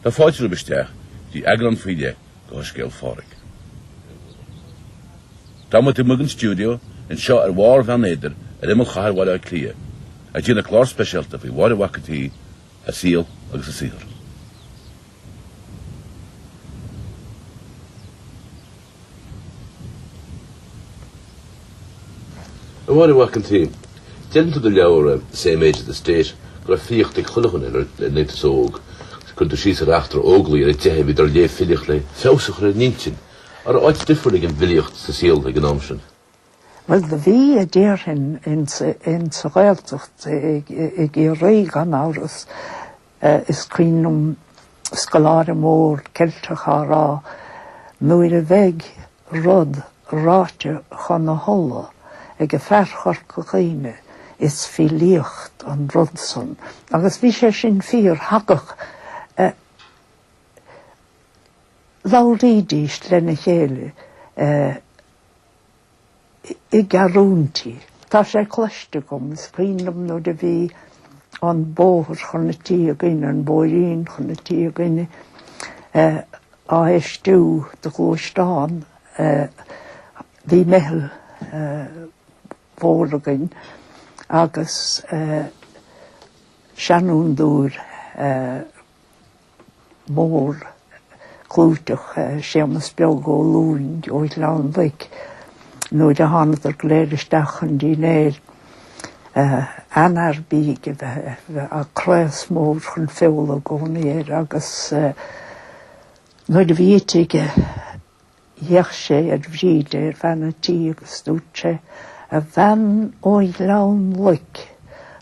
Tá fáilte romhaibh isteach go dtí eagrán faoi leith de Shoiscéal Phádraig. Tá muid amuigh ón stiúideo anseo ar bharr Bheann Éadair ar imeall chathair Bhaile Átha Cliath ag déanamh clár speisialta faoi Mháire Mhac an tSaoi, a saol agus a saothar. A Mháire Mhac an tSaoi, deireann tú i do leabhar Same Age as the State go raibh filíocht ag chuile dhuine is tú óg. Cuireann tú síos ar eachtra Óglaigh ar a dteitheadh iad ag léamh filíocht le feabhas a chur ar a n-intinn, an raibh áit difriúil ag an bhfilíocht sa saol ag an am sin. Bhuel, do bhí, déarfainn, in sa Ghaeltacht i gCiarraí, gan amhras. Is cuimhin liom scoláire mór Ceilteach á rá, nuair a bheidh rud ráite chun a thola ag fear Chorca Dhuibhne, is filíocht an rud san. Agus bhí sé sin fíor. Thagadh. labhraídís lena chéile. i gceathrúintí. Tá sé cloiste agam, is cuimhin liom nuair a bhí an bóthar chun an tí againne, an bóithrín chun an tí againne á fheistiú do ghluaisteáin, bhí meitheal mhór againn agus seanfhondúir, mór clúiteach Séamus Beag Ó Lúing ó Ghleann Loic nuair a thánadar go léir isteach chun dinnéir an-ard bídh, bhí craos mór chun feola i gcónaí air agus nuair a bhí ite aige D'fhéach sé ar Bhríde bean an tí agus dúirt sé, A bhean ó Ghleann Loic,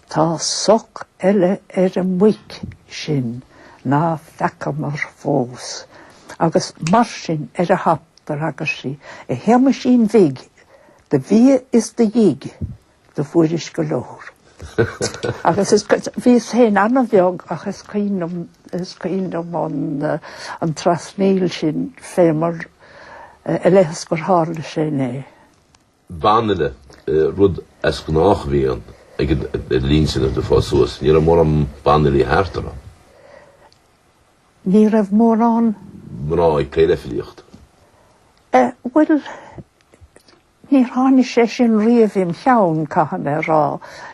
tá soc eile ar an muic sin ná feacamar fós. Agus mar sin ar an dtap d'fhreagair sí, A Shéamuisín bhig, de bhia is de dhigh! do fuairis go leor. Agus bhíos féin an-bheag ach is cuimhin liom is cuimhin liom an trasnaíl sin fé mar a bheadh is gur tharla sé inné. Banfhile, rud as gnách a bhí ann ag an linn sin is tú ag fás suas, ní raibh mórán banfhilí thart, an raibh. Ní raibh mórán? mná ag plé le filíocht. Eh, bhuel, Níor tháinigh sé sin riamh im' cheann, caithfidh mé a rá.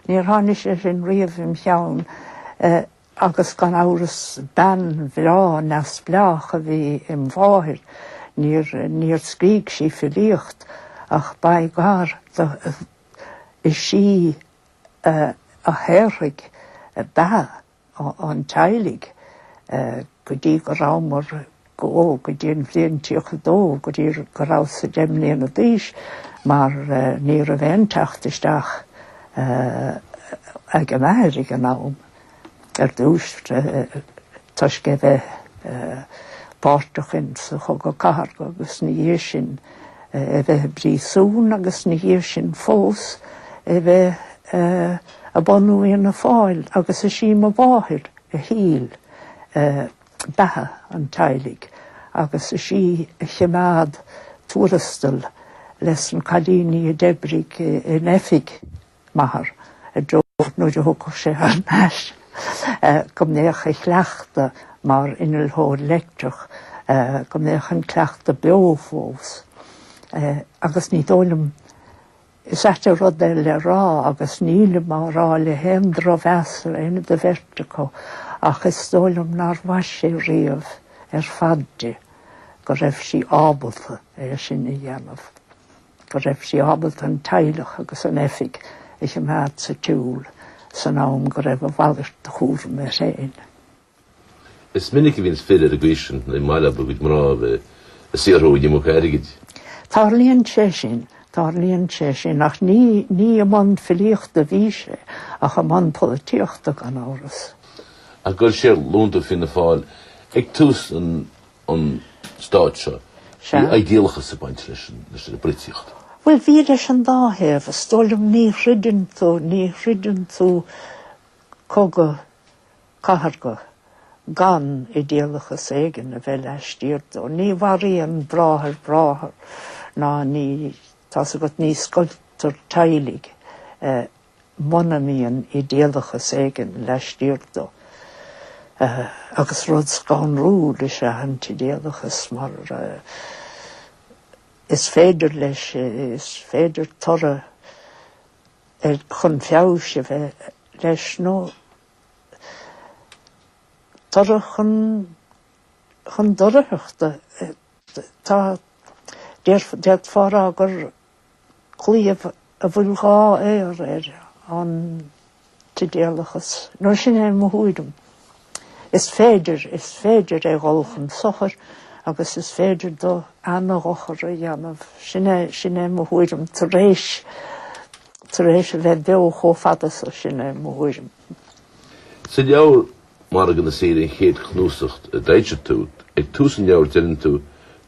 Níor tháinigh sé sin riamh im' cheann agus gan amhras bean bhreá neamhspleách a bhí im' mháthair. Níor, níor scrígh sí filíocht ach b'éigean di, is í a shaothraigh beatha. an teaghlaigh go dtí go rabhamar go dtí an bhliain 32 go dtí go rabhas-sa deich mbliana d'aois mar ní raibh aon teacht isteach ag m'athair ag an am ar dtús toisc é bheith páirteach in sa Chogadh Cathartha agus na dhiaidh sin é bheith i bpríosún agus na dhiaidh sin fós é bheith ag bunú Fhianna Fáil agus is í mo mháthair a thuill beatha an teaghlaigh agus is í a chimeád tuarastal leis na cailíní a d'oibrigh in oifig m'athar i dtreo nuair a thiocfadh sé thar n-ais go mbeadh a chleachtadh mar innealthóir leictreach go mbeadh an cleachtadh beo fós agus ní dóigh liom Is ait an rud é le rá agus nílim á rá le haon drochmheas ar éinne den bheirt acu ach is dóigh liom nár mhaith sé riamh ar fad di go raibh sí ábalta é sin a dhéanamh, go raibh sí ábalta an teaghlach agus an oifig a choimeád sa tsiúl san am go raibh a mhalairt de chúram air féin. Is minic a bhíonns fir ar a gcosaint mar gheall ar a gcuid mná a bheith ag saothrú an iomarca airgid. Tárlaíonn sé sin, tárlaíonn sé sin, ach ní, ní i mbun filíochta a bhí sé ach i mbun polaitíochta gan amhras. Ach ghoill sé ar ghlúnta Fianna Fáil ag tús an, an Stáit seo. Sea. Bhí idéalachas ag baint leis an, leis an bpolaitíocht. Bhuel, bhí leis an dá thaobh. Is dóigh liom ní throideann tú, ní throideann tú cogadh cathartha, gan idéalachas éigin a bheith laistiar dó. Ní mharaíonn bráthair bráthair ná ní, tá's agat, ní scoiltear teaghlaigh muna mbíonn idéalachas éigin laistiar dó. Agus rud scanrúil is ea an t-idéalachas mar is féidir leis, is féidir toradh chun feabhais a bheith leis nó toradh chun chun doircheachta. Tá d'fhéadfá a rá gur claíomh a bhfuil dhá fhaobhar air an t-idéalachas. Nó sin é mo thuairim. Is féidir, is féidir é dhul chun sochair agus is féidir do ana-dhochar a dhéanamh. Sin é, sin é mo thuairim tar éis, tar éis a bheith beo chomh fada so, sin é mo thuairim. Sa leabhar Margadh na Saoire, an chéad chnuasacht a d'fhoilsigh tú, ag tús an leabhair deireann tú,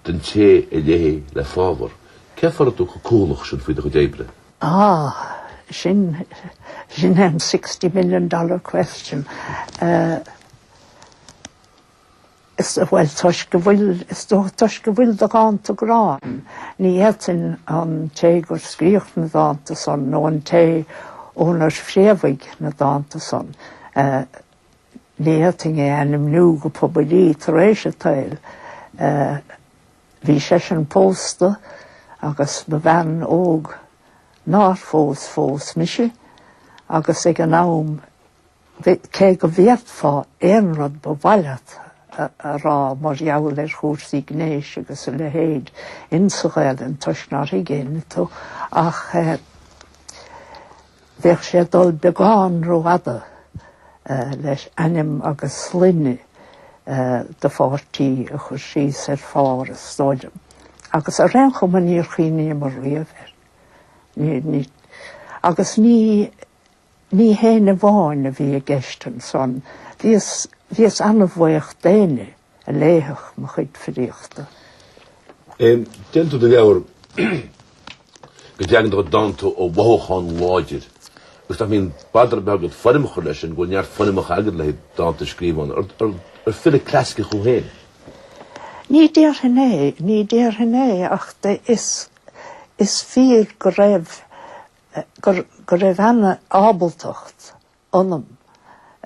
'Don té a léifidh le fábhar'. Cén fáth a raibh tú chomh cúthalach sin faoi do chuid oibre? Á, sin, sin é an sixty million dollar question. Bhuel, toisc go bhfuil, is dócha toisc go bhfuil do dhánta grá ann. Ní fhéadfainn an té gur scríodh na dánta san nó an té ónar phréamhaigh na dánta san, ní fhéadfainn é ainmniú go poiblí tar éis an tsaoil. Bhí seisean pósta agus ba bhean óg nár phós fós mise agus ag an am, Cé go bhféadfá aon rud ba mhaith leat a rá mar gheall ar chúrsaí gnéis agus a leithéid in sa Ghaelainn toisc nár thuig éinne tú, ach bheadh sé ag dul beagán rófhada leis ainm agus sloinne do pháirtí a chur síos ar phár is dóigh liom. Agus ar aon chuma níor chuimhníomar riamh air. Agus ní. Ní héinne amháin a bhí i gceist ansan. Bhíos, bhíos an-bhaoch d'éinne a léifeadh mo chuid filíochta. Deireann tú i do leabhar go dteagann do chuid dánta ó mhothúchán láidir agus nach mbíonn bother ar bith agat foirm a chur leis sin, go bhfuil neart foirmeacha agat le haghaidh dánta a scríobh ann. Ar, ar, ar file clasaiceach thú féin? Ní déarfainn é, ní déarfainn é ach is, is fíor go raibh go raibh an-ábaltacht ionam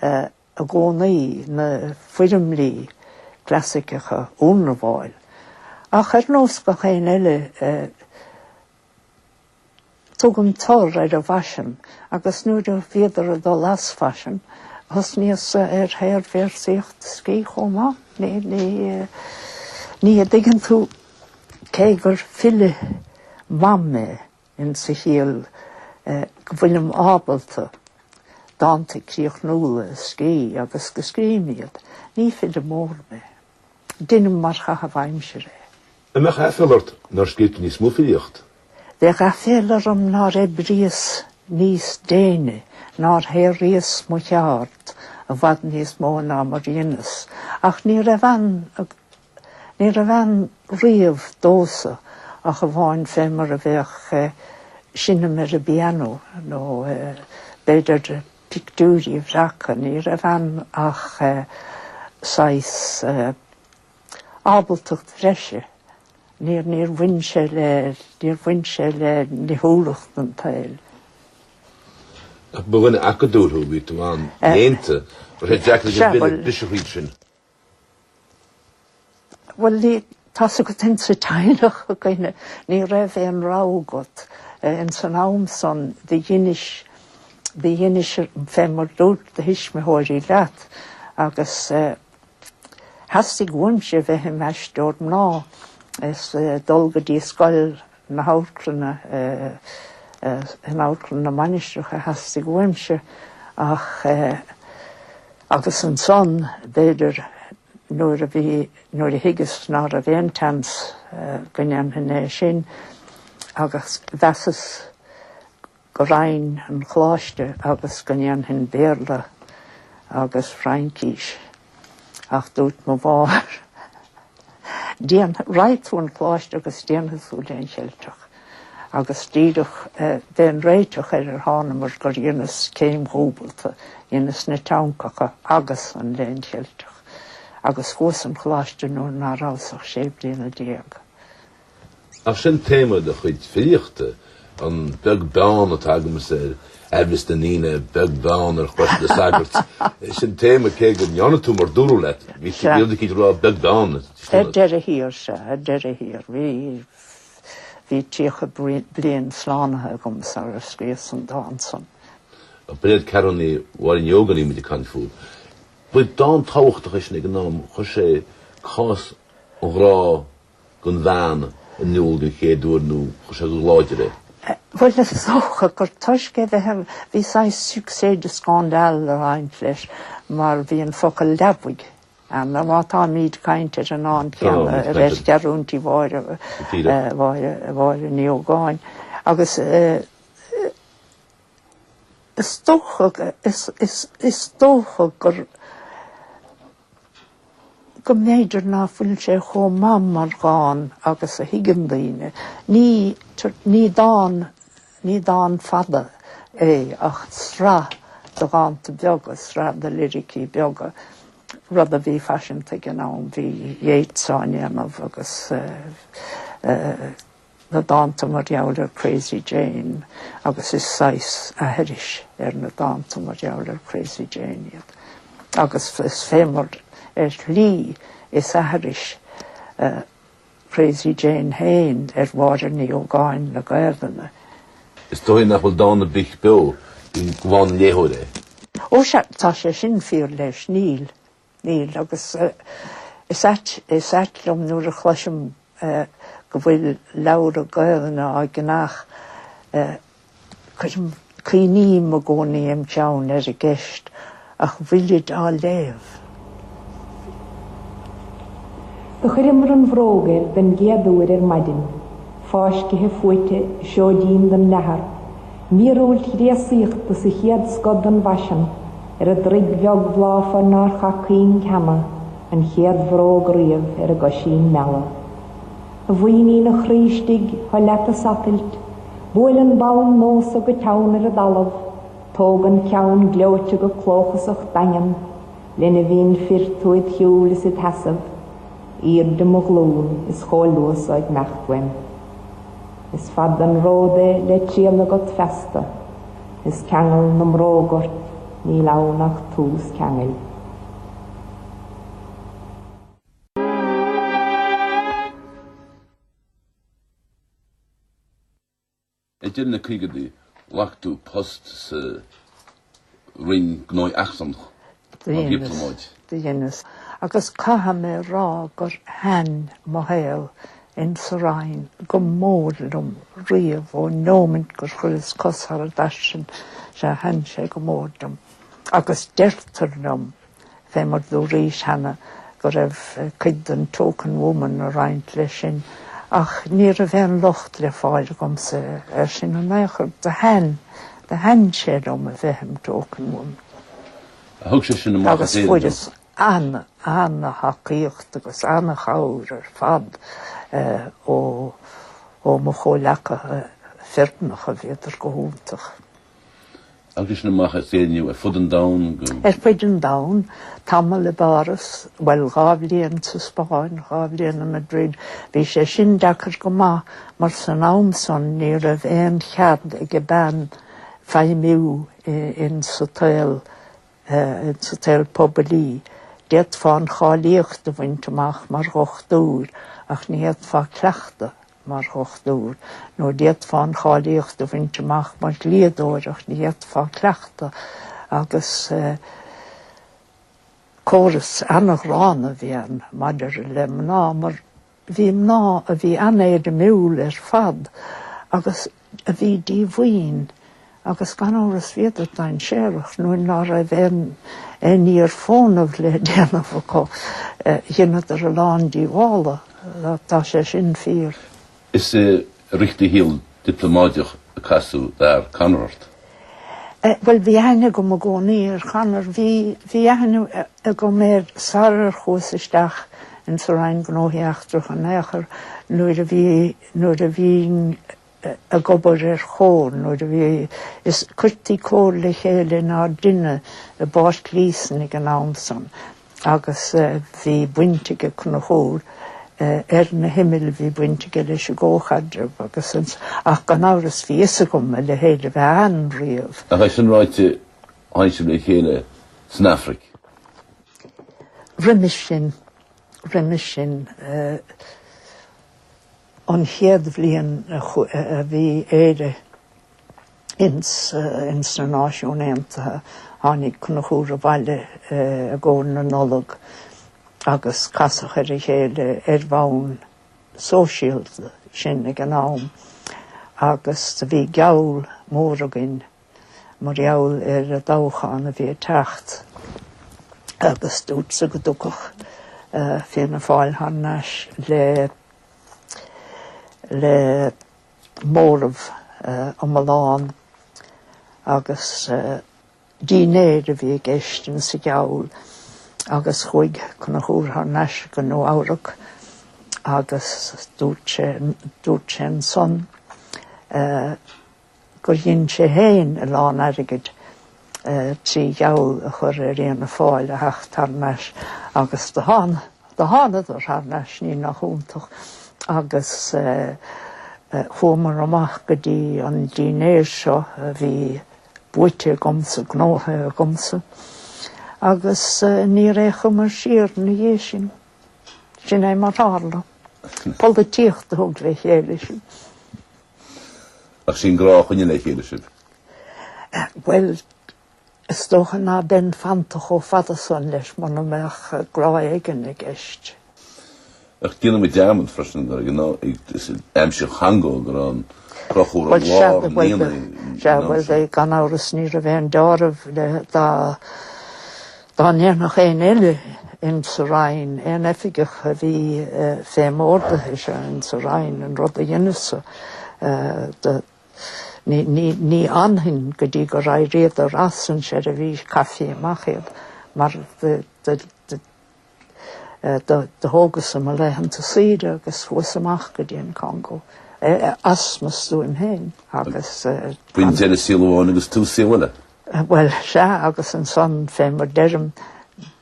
i gcónaí na foirmlí clasaiceacha a ionramháil, ach ar nós gach éinne eile, tugaim tor ar an bhfaisean, agus nuair a bhíodar ag dul as faisean, thosnaíos ar shaor-véarsaíocht a scríobh chomh maith, ní, an dtuigeann tú, cé gur file maith mé. in sa chiall go bhfuilim ábalta dánta críochnúla a scríobh agus go scríobhaim iad. Ní file mór mé. Deinim mar chaitheamh aimsire é. An mbeadh aiféala ort nár scríobh tú níos mó filíocht? Bheadh aiféala orm nár oibríos níos déine, nár shaothraíos mo cheard i bhfad níos mó ná mar dheineas, ach ní raibh an Ní raibh ann riamh domhsa ach amháin fé mar a bheadh seinm ar an bpiano nó b'fhéidir pictiúirí a bhreacadh. Ní raibh ann ach saghas ábaltacht bhreise. Níor bhain sé le, níor bhain sé le nithiúlacht an tsaoil. Ach ba dhuine acadúil thú, bhí tú an-léannta, ba deacair a bheith biseach iad sin. Bhuel, ní, tá's agat ins a' teaghlach againne ní raibh aon rogha agat. Ins an am san do dheinis, do dheinis fé mar dúirt do thuismitheoirí leat agus theastaigh uaimse bheith im' aisteoir mná is dul go dtí scoil na hAmharclainne, eh, in Amharclann na Mainistreach a theastaigh uaimse ach eh, agus ansan b'fhéidir nuair a bhí, nuair a thuigeas ná raibh aon tseans eh, go ndéanfainn é sin agus mheasas go raghainn an Choláiste agus go ndéanfainn Béarla agus Fraincís. Ach dúirt mo mháthair, Déan, raghaidh tú an Choláiste agus déanfaidh tú Léann Cheilteach. Agus díreach b'é an réiteach ar ar thánamair gur dheineas céim dhúbalta, dheineas na teangthacha agus an Léann Cheilteach. Agus chuas an Choláiste nuair ná rabhas ach sé bliana déag. Ach sin téama do chuid filíochta, an beag beann atá agamsa ar amhras na ndaoine, beag beann ar chrois na sagart. Sin téama cé go ndearna tú mar dúradh leat, bhí siad ag rá beag beann. Ar deireadh thiar sea, ar deireadh thiar, bhí, bhí tríocha bliain slánaithe agam sara scríos an dán san. Ab iad Ceathrúnaí Mháire Ní Ógáin a bhí muid ag caint fúthu. Ba dán tábhachtach é sin ag an am, chuir sé cás an ghrá, don bhean in iúl den chéad uair nó chuir sé go láidir é. Bhuel, is dócha gur toisc é bheith ar, bhí saghas succès de scandale a roinnt leis mar bhí an focal leabaidh ann, mar má táimíd ag caint ar an dán céanna, Ceathrúintí Mháire, Mháire, Mháire Ní Ógáin agus, Is dócha is dócha gur go mb'fhéidir ná fuil sé chomh maith mar dhán agus a thuigeann daoine. Ní ní dán ní dán fada é ach sraith de dhánta beaga, sraith de liricí beaga, rud a bhí faiseanta ag an am. Bhí Yeats á ndéanamh agus eh, na dánta mar gheall ar Crazy Jane agus is saghas aithris ar na dánta mar gheall ar Crazy Jane iad agus is fé mar ar shlí is aithris Crazy Jane féin ar Mháire Ní Ógáin na Gaelainne. Is dóigh nach bhfuil dán ar bith beo gan an léitheoir. Ó sea, tá sé sin fíor leis, níl, Níl, agus is ait, is ait liom nuair a chloisim go bhfuil leabhra Gaolainne á gceannach, cuirim, cuimhním i gcónaí im' cheann ar an gceist, ach bhfuilid á léamh? Do chuireamar an bhróg air den gcéad uair ar maidin, fáiscithe fuaite, seoidín don leathar, Míorúilt ghréasaíochta sa chéad scoth den bhfaisean, ar an dtroigh bheag bhláfar nár chaith cuing cheana, an chéad bhróg riamh ar an gcoisín meala. A mhaoinín a chroí istigh, seo leat ag satailt, buail an bonn nó so go teann ar an dtalamh, tóg an ceann gleoite go clóchasach daingean, linbhín fir tú id shiúl is id sheasamh. Airde mo ghlún is chomh luath so ag meacht uaim. Is fada an ród é le triall agat feasta, is ceangal na mbróg ort níl ann ach tús ceangail. Idir na caogaidí, ghlac tú post sa Roinn Gnóthaí Eachtracha. Do dheineas, agus caithfidh mé a rá gur thaitn mo shaol in sa Roinn go mór liom riamh ó nóimint gur chuireas cos thar an dtairsing, sea thaitn sé go mór liom. Agus deirtear liom fé mar do dúraís cheana go raibh cuid den token woman ag roinnt leis sin, ach ní raibh aon locht le fáil agamsa ar sin in ao' chor. Do thaitn, do thaitn sé liom a bheith im' token woman. Agus fuaireas ana, ana thacaíocht agus ana chabhair ar fad ó, ó mo chomhleacaithe fireannacha, bhíodar go hiontach. Agus sin amach as Éirinn thú ar fud an domhain. Ar fud an domhain, tamall i bPáras, bhuel, dhá bhliain sa Spáinn, dhá bhliain i Madrid, bhí sé sin deacair go maith mar san am san ní raibh aon chead ag bean feidhmiú insa tsaol, insa tsaol poiblí. D'fhéadfá an cháilíocht a bhaint amach mar dhochtúir ach ní fhéadfá cleachtadh. mar dhochtúir, nó d'fhéadfá an cháilíocht a bhaint amach mar dhlíodóir ach ní fhéadfá cleachtadh agus córas an-ghránna a bhí ann maidir le mná mar bhí mná a bhí an-éirimiúil ar fad agus a bhí díomhaoin agus gan amhras bhíodar dainséarach nuair ná raibh aon ní ar fónamh le déanamh acu. Dheineadar a lán díobhála. Tá sé sin fíor. Is i rith do shaol diplomáideach a casadh d'fhear Conor ort. Bhuel bhí aithne agam i gcónaí ar Conor. Bhí bhí aithne agam air sarar chuas isteach insa Roinn Gnóthaí Eachtracha in aon chor nuair a bhí nuair a bhínn ag obair ar Chomhar, nuair a bhí, is cuirtí Comhar le chéile inár dtighne i bPáirc Líosain ag an am san agus bhí baint aige Conchúr ar na himill, bhí baint aige leis an gcomhchaidreamh agus ach gan amhras bhí a fhios agam a leithéid a bheith ann riamh. Ach é sin ráite, tháinig sibh le chéile san Afraic. Roimis sin, roimis sin an chéad bhliain a bhí Éire ins na Náisiúin Aontaithe tháinig Conchúr abhaile i gcomhair na Nollag agus casadh ar a chéile ar bhonn sóisialta sinn ag an am agus do bhí geall mór againn mar gheall ar an dtoghchán a bhí ag teacht agus dúrtsa go dtiocfadh Fianna Fáil thar n-ais le le móramh iomlán agus dinnéar a bhí i gceist insa gheall agus chuaigh Conchúr thar n-ais go Nua Eabhrac agus dúirt sé dúirt sé ansan gur dhein sé féin a lán airgid trí gheall a chur ar Fhianna Fáil a theacht thar n-ais agus do thána. Do thánadar thar n-ais, ní nach iontach, agus chuamar amach go dtí an dinnéar seo a bhí buaite agamsa, gnóthaithe agamsa, agus níor fhéachamar siar ina dhiaidh sin. Sin é mar tharla. Polaitíocht a thug le chéile sinn. Ach sé an grá a choinnigh le chéile sibh. Eh, bhuel, is dócha ná beinn fanta chomh fada san leis muna mbeadh grá éigin i gceist. Ach déanaimid dearmad freisin gur ag an aimsir Chongó gur fhan Conchúr i lár i mbliana in ann seo. Sea, bhuel, gan amhras ní raibh aon dealramh le dá Dá ndéanfadh aon eile ins sa Roinn, aon oifigeach a bhí fé m'ordaithe-se ins sa Roinn an rud a dheineas-sa do, ní fhanfainn go dtí gur éiríodar as an seirbhís, caithfí amach iad, mar do thógas-sa mo laethanta saoire agus chuas amach go dtí an Congó as mo stuaim féin agus. B'in deireadh saol amháin agus tús saol eile. Bhuel, sea, agus ansan, fé mar deirim,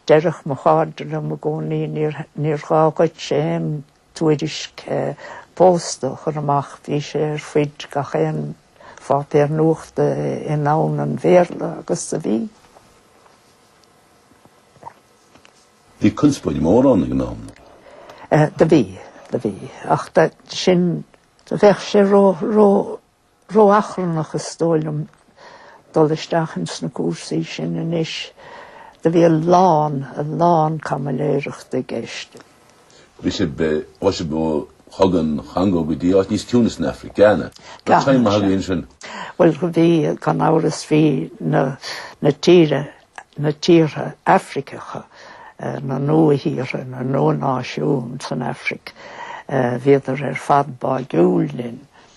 deireadh mo chairde liom i gcónaí, níor, níor ghá dhuitse aon tuairisc pósta a chur amach, bhí sé ar fuid gach aon pháipéar nuachta i ndomhan an Bhéarla agus do bhí. Bhí conspóid mhór ann ag an am. Do bhí, do bhí. Ach sin, bheadh sé ró, ró, Ró-achrannach is dóigh liom dul isteach ins na cúrsaí sin anois. Do bhí a lán, a lán caimiléireacht i gceist. Bhí sé, bhí sé go thug an Chongó go dtí áit níos ciúine san Aifric, Gána? Gána. Tá time againn ansin. Bhuel, do bhí, gan amhras, bhí na, na tíre, na tíortha Aifriceacha, na nua-thíortha, na nua-náisiúin san Aifric, bhíodar ar fad báidhiúil linn.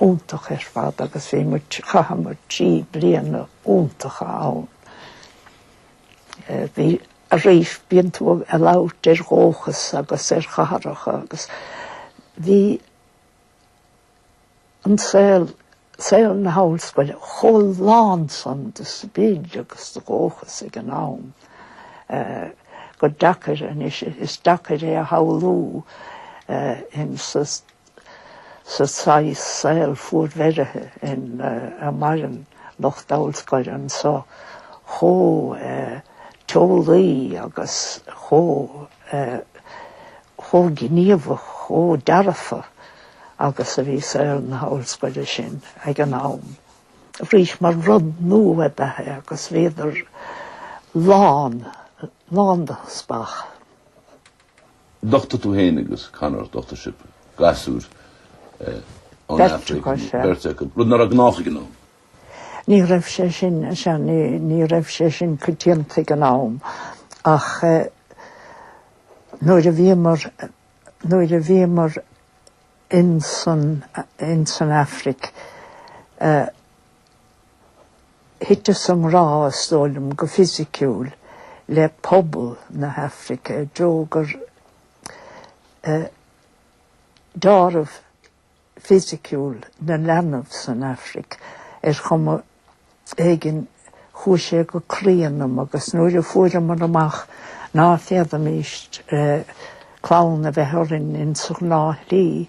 iontach ar fad agus bhíomar, chaitheamar trí bliana iontacha ann. Bhí, arís bíonn tú ag labhairt ar dhóchas agus ar chathracha agus bhí an saol, saol na hollscoile chomh lán san de sprid agus de dhóchas ag an am gur deacair anois, is deacair é a shamhlú in sa, sa saghas saol fuarbheirithe ina maireann lucht ollscoile anso, chomh teolaí agus chomh gníomhach, chomh dearfa agus a bhí saol na hollscoile sin ag an am. Arís, mar rud nua ab ea é agus bhíodar lán, lán de spách. D'uchtaigh tú féin agus Conor, d'uchtaigh sibh gasúr ón Afraic, beirt acu, rud ná raibh gnách ag an am. Ní raibh sé, ní raibh sé sin coitianta ag an am ach nuair a bhíomar, nuair a bhíomar ins an, ins an Afraic, Thiteas i ngrá, is dóigh liom, go fisiciúil le pobal na hAifrice, i dtreo gur deáramh fisiciúil na leanbh san Aifric, ar chuma éigin chuaigh sé go croí ionam agus nuair a fuaireamar amach ná féadaimíst clann a bheith orainn insa ghnáth shlí,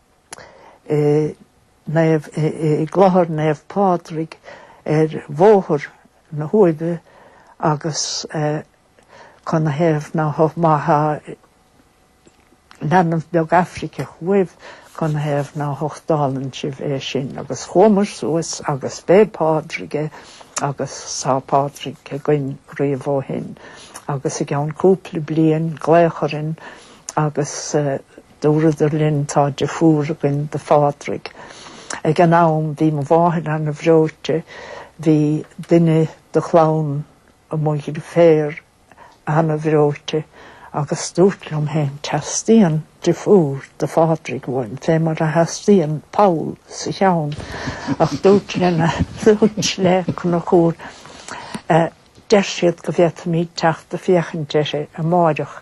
i gClochar Naomh Pádraig ar Bhóthar na hUaimhe agus canathaobh ná má tá leanbh beag Aifriceach uaibh canathaobh ná huchtálann sibh é sin agus chuamair suas agus b'é Pádraig é agus tá Pádraig againn riamh ó shin agus i gceann cúpla bliain glaodh orainn agus Dúradar linn tá deirfiúr againn do Phádraig. Ag an am bhí mo mháthair ana bhreoite, bhí duine do chlann mo dheirféar ana bhreoite agus dúrt liom fhéin teastaíonn deirfiúr do Phádraig uaim, fé mar a theastaíonn poll sa cheann ach dúrt le Conchúr Deir siad go bhféadfaimíd teacht ag féachaint uirthi amáireach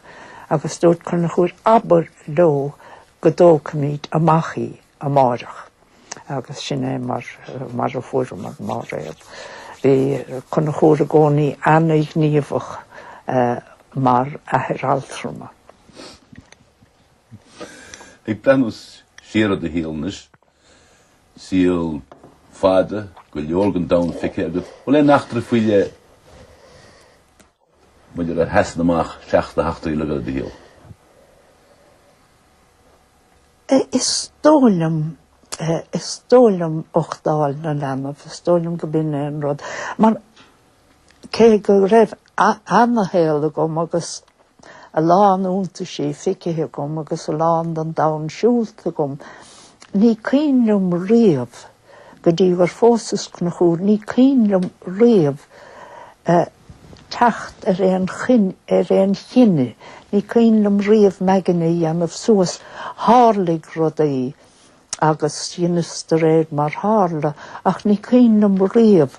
agus dúirt Conchúr abair leo go dtógfaimíd amach í amáireach. Agus sin é mar a fuaireamar Máiréad. Bhí Conchúr i gcónaí ana-ghníomhach mar athair altrama. Ag breathnú siar ar do shaol anois, Saol fada, go leor den domhan feicthe agat. Bhfuil aon eachtra faoi leith b'fhéidir a sheasann amach seachas na heachtraí eile de do shaol? Is dóigh liom is dóigh liom uchtáil na leanbh, is dóigh liom gurb in é an rud mar Cé go raibh ana-shaol agam agus a lán iontaisí feicthe agam agus a lán den domhan siúlta agam, ní cuimhin liom riamh, go dtí gur phósas Conchúr, ní cuimhin liom riamh teacht ar aon ar aon chinneadh, ní cuimhin liom riamh m'aigne a dhéanamh suas. Tharlaigh rudaí. agus dheineas de réir mar tharla, ach ní cuimhin liom riamh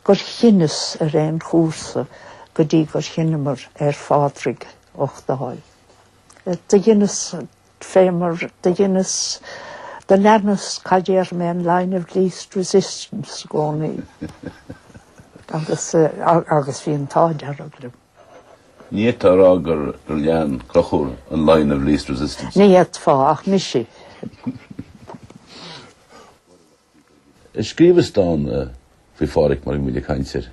gur chinneas ar aon chúrsa go dtí gur chinneamar ar Phádraig a uchtáil. Do dheineas fé mar do dheineas, do leanas cad déarfaidh mé, an line of least resistance i gcónaí. Agus, agus bhí an t-ádh dearg liom. Ní fhéadfá a rá gur lean Conchúr an line of least resistance. Ní fhéadfá ach mise. Scríobhas dán faoi Phádraig mar go bhfuil ag caint air.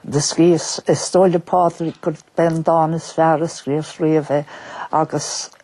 Do scríobhas. Is dóigh le Pádraig gurb é an dán is fearr a scríobhas riamh é agus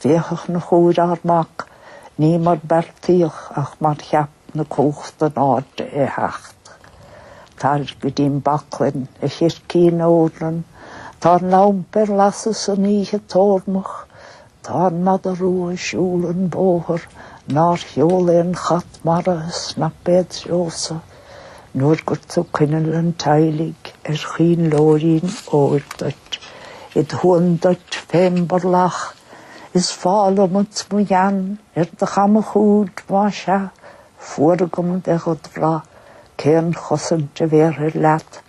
Féach, a Chonchúir, ár mac, ní mar beartaíodh ach mar cheap na cumhachta in airde é theacht. Tar go dtím baclainn, a chircín eornan, tá an lampa ar lasadh is an oíche ag tórmach, tá an mada rua ag siúl an bóthar, nár sheola aon chat mara ag snapadh é id threosa. Nuair gur tú coinneal an teaghlaigh ar choinnleoirín óir duit, id shuan duit fém borlach, is fál umat mo ghean ar do chamachuaird, más ea, fuar agam bheith dhed bhrath, cén chosaint a bhéarfair leat